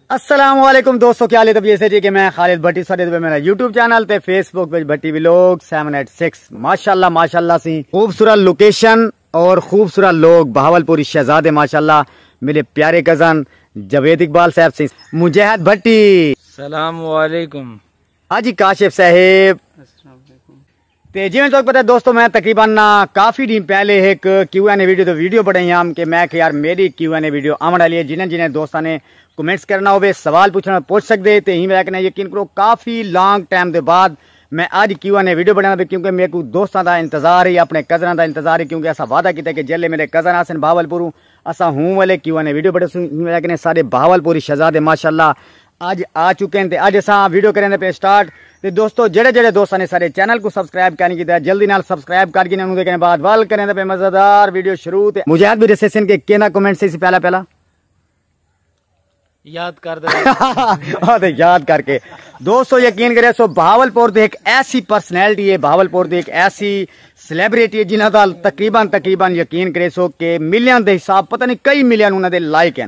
السلام علیکم دوستو کیا لے تبھی ایسے جی کہ میں خالد بھٹی سارے دے میرا یوٹیوب چینل تے فیس بک وچ بھٹی ویلوگ 786 ماشاءاللہ ماشاءاللہ سی خوبصورت لوکیشن اور خوبصورت لوگ بہاولپوری شہزادے ماشاءاللہ میرے پیارے کزن جاوید اقبال صاحب سی مجاہد بھٹی السلام علیکم حاجی کاشف صاحب السلام علیکم تے جیویں تہاکوں پتہ ہے دوستو میں تقریبا کافی ڈینہہ پہلے ہک کیو این اے ویڈیو تے ویڈیو بنائی ہام کہ میں کہ یار میڈی کیو این اے ویڈیو آون والی ہے جنہیں جنہیں دوستاں نے کمنٹس کرنا ہووے سوال پچھنا ہووے پچھ سکدے تے ایں وجہ کنے یقین کرو کافی لانگ ٹائم دے بعد میں اج کیو این اے ویڈیو بنانا پے کیونکہ میکوں دوستاں دا انتظار ہی اپنے کزناں دا انتظار ہی کیونکہ اساں وعدہ کیتا کہ جیلے میڈے کزن آسن بہاولپوروں اساں ہوں ولے کیو این اے ویڈیو بناسوں ایں وجہ کنے ساڈے بہاولپوری شہزادے ماشاءاللہ اج آ چکن تے اج اساں ویڈیو کریندے پے سٹارٹ تے دوستو جڑے جڑے دوستاں نے سارے چینل کو سبسکرائب کائنی کیتا جلدی نال سبسکرائب کر گینے انہوں دے کنے بعد وال کریندے پے مزیدار ویڈیو شروع تے مجاہد بھی دسے سن کہ کینا کمنٹ سی سی پہلا پہلا یاد کر دے تے یاد کر کے دوستو یقین کرے سو بہاول پور دی ایک ایسی پرسنالٹی ہے بہاول پور دی ایک ایسی سلیبریٹی ہے جنہاں دا تقریبا تقریبا یقین کرے سو کہ ملین دے حساب پتہ نہیں کئی ملین انہاں دے لائک ہیں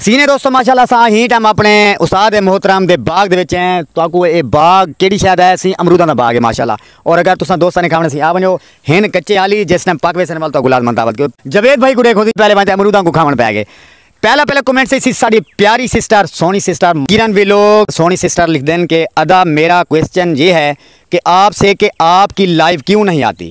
سینے دوستو ماشاءاللہ سا ہی ٹائم اپنے استاد محترم دے باغ دے وچ ہیں تو اکو اے باغ کیڑی شاید ہے سی امروداں دا باغ ہے ماشاءاللہ اور اگر تساں دوستاں نے کھاونے سی آ ونجو ہن کچے حالی جس ٹائم پاک ویسن وال تو اکو لازمان دعوت کیو جوید بھائی کو دیکھو دی پہلے وانتے امروداں کو کھاون پہ گئے پہلا پہلا کومنٹ سے سی ساڑی پیاری سسٹر سونی سسٹر گیرن بھی لوگ سونی سسٹر لکھ دین کہ ادا میرا کوئسچن یہ ہے کہ آپ سے کہ آپ کی لائیو کیوں نہیں آتی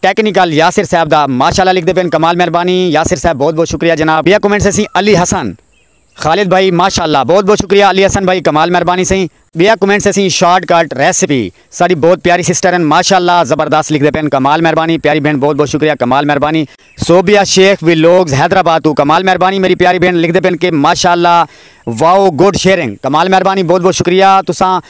ٹیکنیکل یاسر صاحب دا ماشاءاللہ لکھدے پن کمال مہربانی یاسر صاحب بہت بہت شکریہ جناب بیا کمنٹس اسیں علی حسن خالد بھائی ماشاءاللہ بہت بہت شکریہ علی حسن بھائی کمال مہربانی سئیں بیا کمنٹس اسیں شارٹ کٹ ریسپی ساڈی بہت پیاری سسٹر ہن ماشاءاللہ زبردست لکھدے پن کمال مہربانی پیاری بھن بہت بہت شکریہ کمال مہربانی صوبیہ شیخ ویلوگز حیدرآباد توں کمال مہربانی میری پیاری بھن لکھدے پن کہ ماشاءاللہ واؤ گڈ شیئرنگ کمال مہربانی بہت بہت شکریہ تساں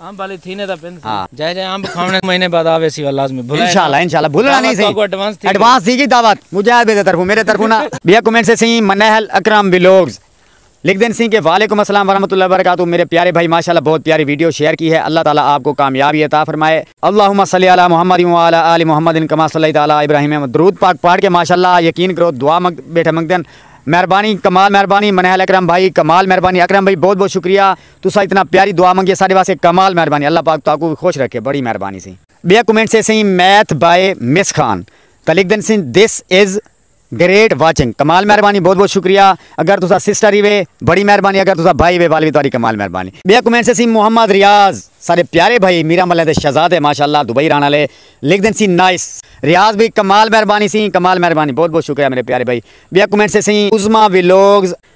امب آلی تھینے دا پن سی۔ جائے جائے امب کھاونے دے مہینے بعد آوے سی وا لازمی بھلائے نا۔ انشاءاللہ انشاءاللہ بھلنا نہیں سی۔ ایڈوانس تھی گی دعوت۔ مجاہد بھائی دے طرفوں میرے طرفوں نا۔ بیا کمنٹ سے سیں منہل اکرم ولاگز لکھ دین سیں کہ وعلیکم السلام ورحمۃ اللہ وبرکاتہ میرے پیارے بھائی ماشاءاللہ بہت پیاری ویڈیو شیئر کی ہے اللہ تعالی آپ کو کامیابی عطا فرمائے۔ اللہم صلی علی محمد وعلی آل محمد کما صلیت علی ابراہیم درود پاک پڑھ کے ماشاءاللہ یقین کرو دعا بیٹھے منگدن مہربانی کمال مہربانی منہل اکرم بھائی کمال مہربانی اکرم بھائی بہت بہت شکریہ تساں اتنا پیاری دعا منگی ہے ساڈے واسطے کمال مہربانی اللہ پاک تہاکوں وی خوش رکھے بڑی مہربانی سی۔ بیا کمنٹ سے سئیں میتھ بائے مس خان تاں لکھ دن سین دس از گریٹ واچنگ کمال مہربانی بہت بہت شکریہ اگر تساں سسٹر ہیوے بڑی مہربانی اگر تساں بھائی ہیوے وال وی تہاڈی کمال مہربانی۔ بیا کمنٹ سے سئیں محمد ریاض ساڈے پیارے بھائی میراں ملیں دے شہزادے ماشاءاللہ دبئی رہن آلے لکھ دن سین نائس۔ ریاض بھائی کمال مہربانی سئیں کمال مہربانی بہت بہت شکریہ میرے پیارے بھائی۔ بیا کمنٹ سے سئیں عظمی ولاگز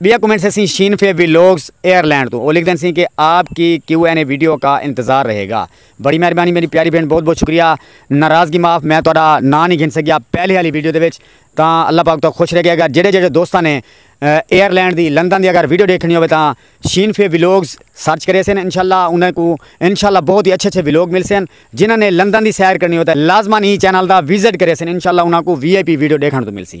بیا کمنٹ سے سین شین فے ویلوگز ایئر لینڈ تو او لکھ دین سین کہ آپ کی کیو این اے ویڈیو کا انتظار رہے گا بڑی مہربانی میری پیاری بہن بہت بہت شکریہ ناراضگی معاف میں تہاڈا نام نہیں گھن سکیا پہلے والی ویڈیو دے وچ تاں اللہ پاک تو خوش رکھے اگر جڑے جڑے دوستاں نے ایئر لینڈ دی لندن دی اگر ویڈیو دیکھنی ہوے تاں شین فے ویلوگز سرچ کرے سین انشاءاللہ انہاں کو انشاءاللہ بہت ہی اچھے اچھے ویلوگ مل سین جنہاں نے لندن دی سیر کرنی ہوے تاں لازما ہی چینل دا وزٹ کرے سین انشاءاللہ انہاں کو وی آئی پی ویڈیو دیکھن تو مل سی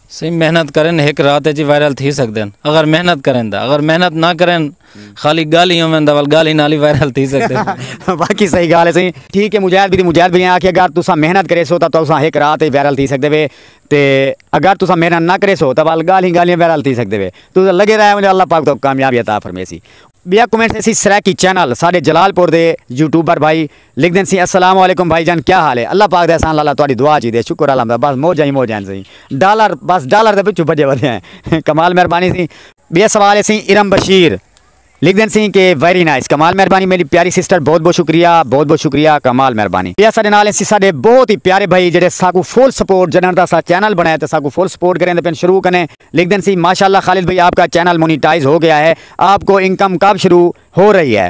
سئیں محنت کرن ہک رات اچ ہی وائرل تھی سگدن اگر محنت کرن دا اگر محنت نہ کرن خالی گالھ ہی ہوون دا ول گالھ ہی نال ہی وائرل تھی سگدن باقی صحیح گالھ ہے سئیں ٹھیک ہے مجاہد بھی مجاہد بھائی آکھیا اگر تساں محنت کریسو تاں تساں ہک رات اچ وائرل تھی سگدے وے تے اگر تساں محنت نہ کریسو تاں ول گالھ ہی گالھ وائرل تھی سگدے وے تساں لگے رہے ونجو اللہ پاک تہاکوں کامیابی عطا فرمیسی۔ ٻیا کومنٹ ہے سی سرائیکی چینل ساڈے جلال پور دے یوٹیوبر بھائی لکھ دین سی السلام علیکم بھائی جان کیا حال ہے اللہ پاک دے احسان لالا تہاڈی دعا چیدے شکر الحمد بس موجاں ہی موجاں ہن سئیں ڈالر بس ڈالر دے پچھوں بھجے ودے ہیں کمال مہربانی سی۔ بیا سوال ہے سی ارم بشیر لکھ دین سی کہ ویری نائس کمال مہربانی میڈی پیاری سسٹر بہت بہت شکریہ بہت بہت شکریہ کمال مہربانی۔ بیا ساڈے نال ہیں سی ساڈے بہت ہی پیارے بھائی جیڑھے ساکوں فل سپورٹ جڈن دا اساں چینل بنایا تے ساکوں فل سپورٹ کریندے پن شروع کنے لکھ دین سی ماشاءاللہ خالد بھائی آپ کا چینل مونیٹائز ہو گیا ہے آپ کو انکم کب شروع ہو رہی ہے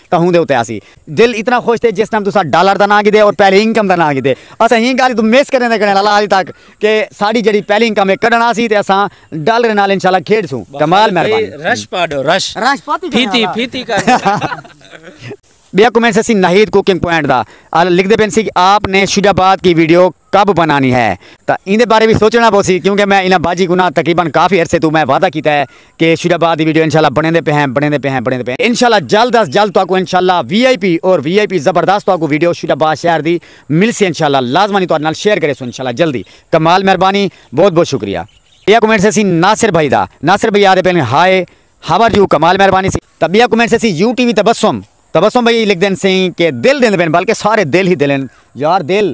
تہوں دے اتے آسی دل اتنا خوش تھے جس ٹائم تساں ڈالر دا ناں گھدے اور پہلی انکم دا ناں گھدے اساں ہی گالھ توں مس کریں دے کریں اللہ حالی تک کہ ساڑی جڑی پہلی انکم ہے کڈن آسی تے اساں ڈالر نال انشاءاللہ کھیڈ سوں کمال مہربانی رش پاڈو رش رش پاتی پھیتی پھیتی کر بیا کمنٹ سے سی ناہید کوکنگ پوائنٹ دا لکھ دے پین سی آپ نے شجاباد کی ویڈیو کب بنانی ہے تاں ایندے بارے وی سوچنڑاں پوسی کیونکہ میں انہاں باجی کوناں تقریبا کافی عرصے توں میں وعدہ کیتا ہے کہ شیر آباد دی ویڈیو انشاءاللہ بنڑیندے پئے ہیں بنڑیندے پئے ہیں بنڑیندے پئے ہیں انشاءاللہ جلد از جلد تہاکوں انشاءاللہ وی آئی پی اور وی آئی پی زبردست تہاکوں ویڈیو شیر آباد شہر دی ملسی انشاءاللہ لازمانی تہاڈے نال شیئر کریسوں انشاءاللہ جلدی کمال مہربانی بہت بہت شکریہ بیا کمنٹ سیسی ناصر بھائی دا ناصر بھائی آدھے پئے ہن ہائے ہاؤ آر یو کمال مہربانی سی تاں بیا کمنٹ سیسی U T V Tabassum Tabassum بھائی لکھدے ہن سئیں کہ دل ڈیندے پئے ہن بلکہ سارے دل ہی دل ہن یار دل۔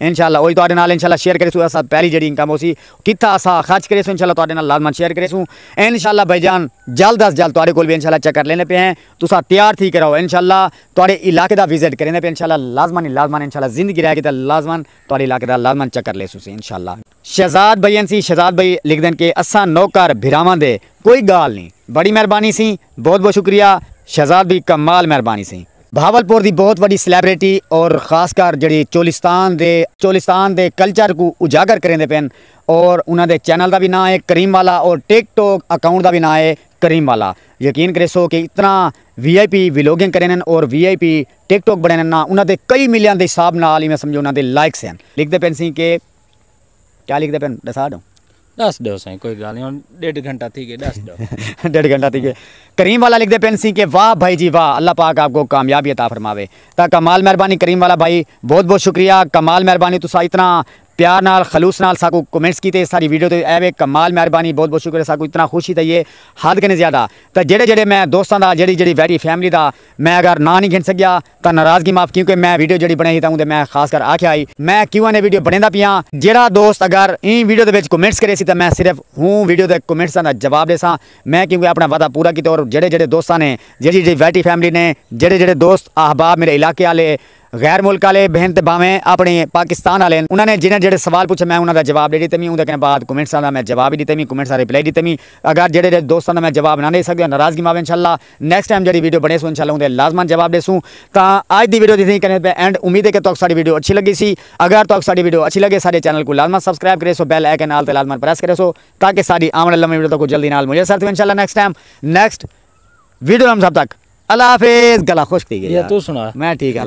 انشاءاللہ اوہی تہاڈے نال انشاءاللہ شیئر کریسوں اساں پہلی جیڑھی انکم ہوسی کتھاں اساں خرچ کریسوں انشاءاللہ تہاڈے نال لازمن شیئر کریسوں انشاءاللہ بھائی جان جلد از جلد تہاڈے کول وی انشاءاللہ چکر لیندے پئے ہیں تساں تیار تھی کے رہو انشاءاللہ تہاڈے علاقے دا وزٹ کریندے پئے انشاءاللہ لازمن لازمن انشاءاللہ زندگی رہے گی تاں لازمن تہاڈے علاقے دا لازمن چکر لیسوسی انشاءاللہ۔ شہزاد بھئی این سی شہزاد بھئی لکھدن کہ اساں نوکر بھراواں دے کوئی گالھ نی بڑی مہربانی سی بہت بہت شکریہ شہزاد بھئی کمال مہربانی سی۔ بھاول پور دی بہت وڈی سلیبریٹی اور خاص کر جیڑھی چولستان دے چولستان دے کلچر کوں اجاگر کریندے پن اور انہاں دے چینل دا وی ناں ہے کریم والا اور ٹک ٹوک اکاؤنٹ دا وی ناں ہے کریم والا یقین کریسو کہ اتنا وی آئی پی ویلوگنگ کرینن اور وی آئی پی ٹک ٹوک بنینن ناں انہاں دے کئی ملین دے حساب نال ایویں سمجھو انہاں دے لائکس ہن لکھدے پن سی کہ کیا لکھدے پن ڈسا ڈوں۔ ڈس ڈو سائیں کوئی گالھ نہیں ہن ڈیڈھ گھنٹہ تھی گئے ڈس ڈو۔ ڈیڈھ گھنٹہ تھی گئے کریم والا لکھدے پن سی کہ واہ بھائی جی واہ اللہ پاک آپ کو کامیابی عطا فرماوے تاں کمال مہربانی کریم والا بھائی بہت بہت شکریہ کمال مہربانی تساں اتنا پیار نال خلوص نال ساکو کمنٹس کیتے ساڈی ویڈیو تے اے وے کمال مہربانی بہت بہت شکریہ ساکو اتنا خوشی تھئی اے حد کنیں زیادہ تاں جیڑھے جیڑھے میں دوستاں دا جیڑھی جیڑھی ویڈی فیملی دا میں اگر ناں نہیں گھن سکیا تاں ناراضگی معاف کیونکہ میں ویڈیو جیڑھی بݨائی ہئی تاں اوندے میں خاص کر آکھیا ہئی میں کیوں این اے ویڈیو بݨیندا پیاں جیڑھا دوست اگر ایں ویڈیو دے وچ کمنٹس کریسی تاں میں صرف اوں ویڈیو دے کمنٹساں دا جواب ݙیساں میں کیونکہ اپݨا وعدہ پورا کیتے اور جیڑھے جیڑھے دوستاں نے جیڑھی جیڑھی ویٹی فیملی نے جیڑھے جیڑھے دوست احباب میݙے علاقے آلے غیر ملک آلے بھن تے بھانویں اپݨے پاکستان آلے ہن انہاں نے جیڑھے جیڑھے سوال پچھے میں انہاں دا جواب ݙے ݙتے وی اوندے کنے بعد کمنٹساں دا میں جواب وی ݙتے وی کمنٹس دا ریپلائی ݙتے وی اگر جیڑھے جیڑھے دوستاں دا میں جواب نہ ݙے سڳیاں ناراضگی معاف انشاءاللہ نیکسٹ ٹائم جیڑھی ویڈیو بنڑیسوں انشاءاللہ اوندے لازما جواب ڈیسوں تاں اج دی ویڈیو دی تھیں کنے پہ اینڈ امید ہے کہ تہاکوں ساڈی ویڈیو اچھی لگی سی اگر تہاکوں ساڈی ویڈیو اچھی لگے ساڈے چینل کوں لازما سبسکرائب کریسو بیل آئیکن آل تے لازما پریس کریسو تاکہ ساڈی آون آلی نویں ویڈیو تہاکوں جلدی نال میسر تھیون انشاءاللہ نیکسٹ ٹائم نیکسٹ ویڈیو نال تھاں تک اللہ حافظ گلا خشک تھی گئی یار میں ٹھیک ہاں۔